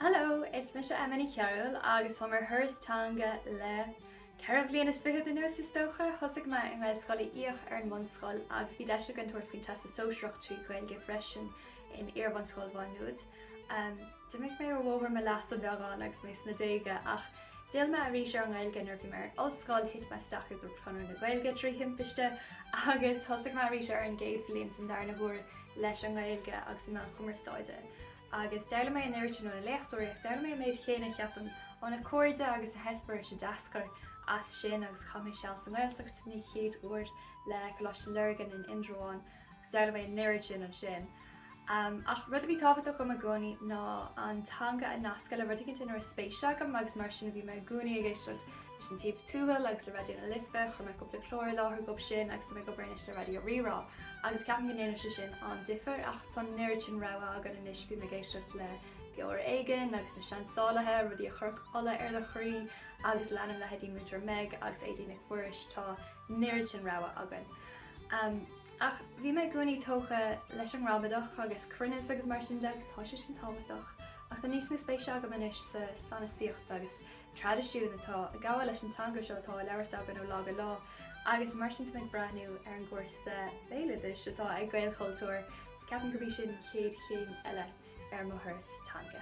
Hello, is mise Emma Ní Chearúil agus táim ar thuras teanga le ceithre bhliain is fichead anuas is dócha. Thosaigh mé i nGaelscoil Uí Fhiaich ar an mbunscoil agus bhí deis againn tabhairt faoin Teastas Sóisearach trí Ghaeilge freisin in iarbhunscoil Mhá Nuad. D'imigh mé ar bhóthar m'aimhleasa beagán agus mé sna déaga ach d'fhill mé arís ar an nGaeilge nuair a bhí mé ar an ollscoil, thit mé isteach i gCumann Conradh na Gaeilge trí thimpiste agus thosaigh mé arís ar an gcéad bhliain don darna huair leis an nGaeilge agus na meáin chumarsáide. Agus d'fhoghlaim mé an oiread sin ó na léachtóirí, ach d'fhoghlaim mé an méid chéanna, ceapaim, ó na cairde agus na heispéiris a d'eascair as sin agus chaith mé seal sa nGaeltacht don chéad uair le Coláiste Lurgan in Indreabhán agus d'fhoghlaim mé an oiread sin ansin. Ach rud a bhí tábhachtach dom i gcónaí ná an teanga a nascadh le rud éigin inar raibh spéis agam agus mar sin a bhí mé i gcónaí ag éisteacht leis An Taobh Tuathail agus le Raidió na Life, chuir mé cúpla clár i láthair dóibh sin agus tá mé ag obair anois le Raidió Rí-Rá, agus ceapaim go ndéanann sé sin an-difear, ach tá an oiread sin rogha againn anois, bím ag éisteacht le Beo Ar Éigean agus Na Seansálaithe, rudaí a chuirfeadh ola ar do chroí, agus leanaim leithéidí Múinteoir Meg agus Éadaoin Nic Mhuiris, tá an oiread sin rogha againn. Ach bhí mé i gcónaí tógtha leis an ngramadach agus cruinneas agus mar sin de agus tá sé sin tábhachtach, ach tá níos mó spéise agam anois sa sanasaíocht agus traidisiún atá ag gabháil leis an teanga seo atá á labhairt againn ó lá go lá agus mar sin tá mé ag breathnú ar an gcúrsa béaloidis atá ag Gaelchultúr agus ceapaim gurb í sin an chéad chéim eile ar mo thuras teanga.